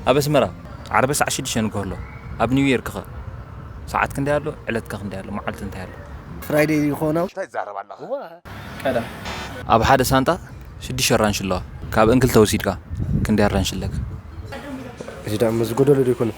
ኣብ ኣስመራ ዓርበ ሰዓት ሽዱሽተ ንግሆ ኣሎ ኣብ ኒው ዮርክ ከ ሰዓት ክንደይ ኣሎ ዕለት ከ ክንደይ ኣሎ መዓልቲ እንታይ ኣሎ። ፍራይደይ ይኾኖ። እንታይ ትዛረብ ኣለኻ ቀዳሕ። ኣብ ሓደ ሳንጣ ሽዱሽተ ኣራንሺ ኣለዋ ካብእን ክልተ ወሲድካ ክንደይ ኣራንሺ ኣለካ። እዚ ደኣ ምስዚ ጎደሎ ዶ ኣይኮነን።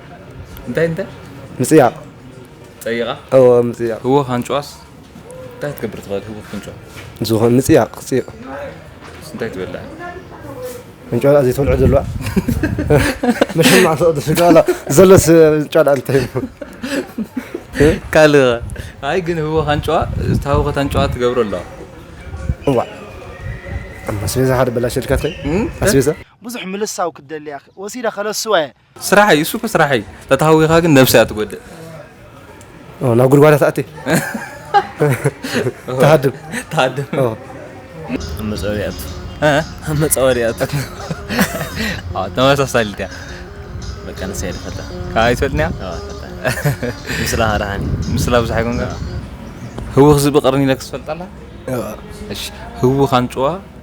እንታይ እንታይ ምጽያቕ ጸይቓ እወ ምጽያቕ ህወኽ ኣንጭዋስ እንታይ ክትገብር ትኽእል ህወኽ ክንጭዋ ዝኾን ምጽያቕ ክጽይቕ እንታይ ትበልዕ እንጭዋ ደኣ ዘይትበልዖ ዘለዋ መሸማዕ ተቕዲ ስጋ ኣላ ዘለስ እንጭዋ ደኣ እንታይ ካልእ ኣይ ግን ህወኽ ኣንጭዋ ዝታወኸት ኣንጭዋ ትገብሮ ኣለዋ እዋ ኣስቤዛ ሓደ በላሸልካትከ ኣስቤዛ ብዙሕ ምልሳው ክትደሊ ወሲደ ከለስዋ እየ ስራሕ እዩ እሱ እኮ ስራሕ እዩ ተታሃዊኻ ግን ነብሲ እያ ትጎድእ ናብ ጉድጓዳ ትኣቲ ትሃድም ትሃድም መፀወድያቱ መፀወድያቱ ተመሳሳሊት እያ በቃ ንሳ እየ ዝፈልጣ ካብ ኣይትፈልጥን እያ ምስላ ሃራሃኒ ምስላ ብዙሕ ኣይኮንካ ህውኽ ዝብቕርኒ ኢለክስ ትፈልጣ ኣላ እሺ ህውኽ ኣንጭዋ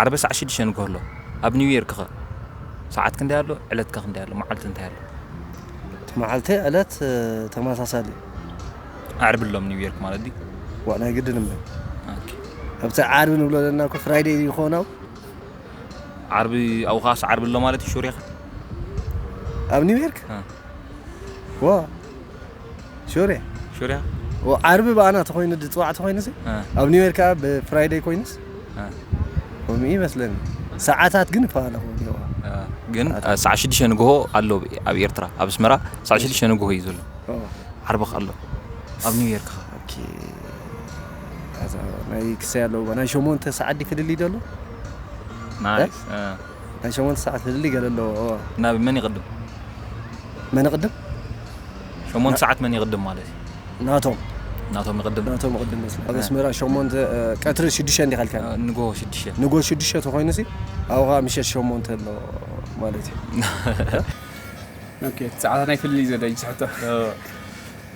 ዓርበ ሳዕ ሽዱሽተ ንግሆ ኣሎ ኣብ ኒው ዮርክ ከ ሳዓት ክንደይ ኣሎ ዕለት ከ ክንደይ ኣሎ ማዓልቲ እንታይ ኣሎ። እቲ ማዓልቲ ዕለት ተማሳሳሊ እዩ። ዓርቢ ኣሎ ኣብ ኒው ዮርክ ማለት ድዩ። ዋእ ናይ ግድን እምበይ ኦኬ። ኣብቲ ዓርቢ ንብሎ ዘለና እኮ ፍራይደይ ይኮን ኣብኡ። ዓርቢ ኣብኡ ከኣስ ዓርቢ ኣሎ ማለት እዩ ሹር ኢካ። ኣብ ኒው ዮርክ እ። ዋእ ሹርያ ሹርያ ዓርቢ ብኣና ተኮይኑ ዝፅዋዕ ተኮይኑ ኣብ ኒውዮር ከዓ ብፍራይደይ ኮይኑስ ከምኡ ይመስለኒ ሰዓታት ግን ይፈላለኹ ኣለዎ ግን ሰዓ ሽዱሽተ ንግሆ ኣሎ ኣብ ኤርትራ ኣብ ኣስመራ ሰዓ ሽዱሽተ ንግሆ እዩ ዘሎ ዓርቢ ኣሎ ኣብ ኒውዮርክ ናይ ክሰይ ኣለዎ ናይ ሸሞንተ ሰዓት ዲ ፍልልይ ደሎ ናይ ሸሞንተ ሰዓት ህድሊ ገለ ኣለዎ። ናብ መን ይቕድም? መን ይቕድም? ሸሞንተ ሰዓት መን ይቕድም ማለት እዩ? ናቶም ናቶም ይቕድም። ናቶም ይቕድም መስሉ ኣብ ኣስመራ ሸሞንተ ቀትሪ ሽዱሽተ እንዲኻ ኢልካኒ ንጎ ሽዱሽተ ንጎ ሽዱሽተ ተኾይኑ ሲ ኣብኡ ከዓ ምሸት ሸሞንተ ኣሎ ማለት እዩ። ኦኬ እቲ ጸዓት ናይ ፍልልይ ዘደይ ዝሕቶ።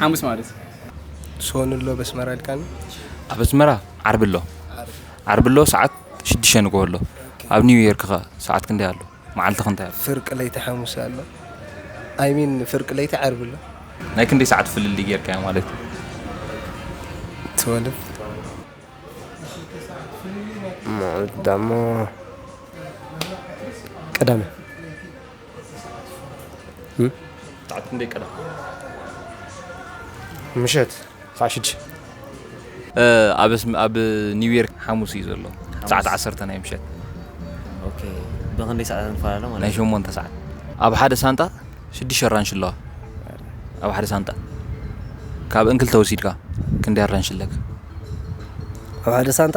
ሓሙስ ማለት እዩ። ሶኑ ኣሎ ኣብ ኣስመራ ኢልካኒ? ኣብ ኣስመራ ዓርቢ ኣሎ። ዓርቢ ኣሎ ሰዓት ሽዱሽተ ንግሆ ኣሎ። ኣብ ኒው ዮርክ ከ ሰዓት ክንደይ ኣሎ? መዓልቲ ከ እንታይ ኣሎ? ፍርቂ ለይቲ ሓሙስ ኣሎ። ኣይ ሚን ፍርቂ ለይቲ ዓርቢ ኣሎ። ናይ ክንደይ ሰዓት ፍልልይ ጌርካዮ ማለት እዩ? ትወልቭ። መዓልቲ ደሞ ቀዳመ። ሰዓት ክንደይ ቀደም? ምሸት ሰዓት ሽዱሽተ። ኣብ ኒውዮርክ ሓሙስ እዩ ዘሎ ሰዓት ዓሰርተ ናይ ምሸት። ኦኬ ብኽንደይ ሰዓታት ንፈላለ ማለት ናይ እዩ? ሸሞንተ ሰዓት ኣብ ሓደ ሳንጣ ሽዱሽተ ኣራንሺ ኣለዋ ኣብ ሓደ ሳንጣ ካብእን ክልተ ወሲድካ ክንደይ ኣራንሺ ኣለካ? ኣብ ሓደ ሳንጣ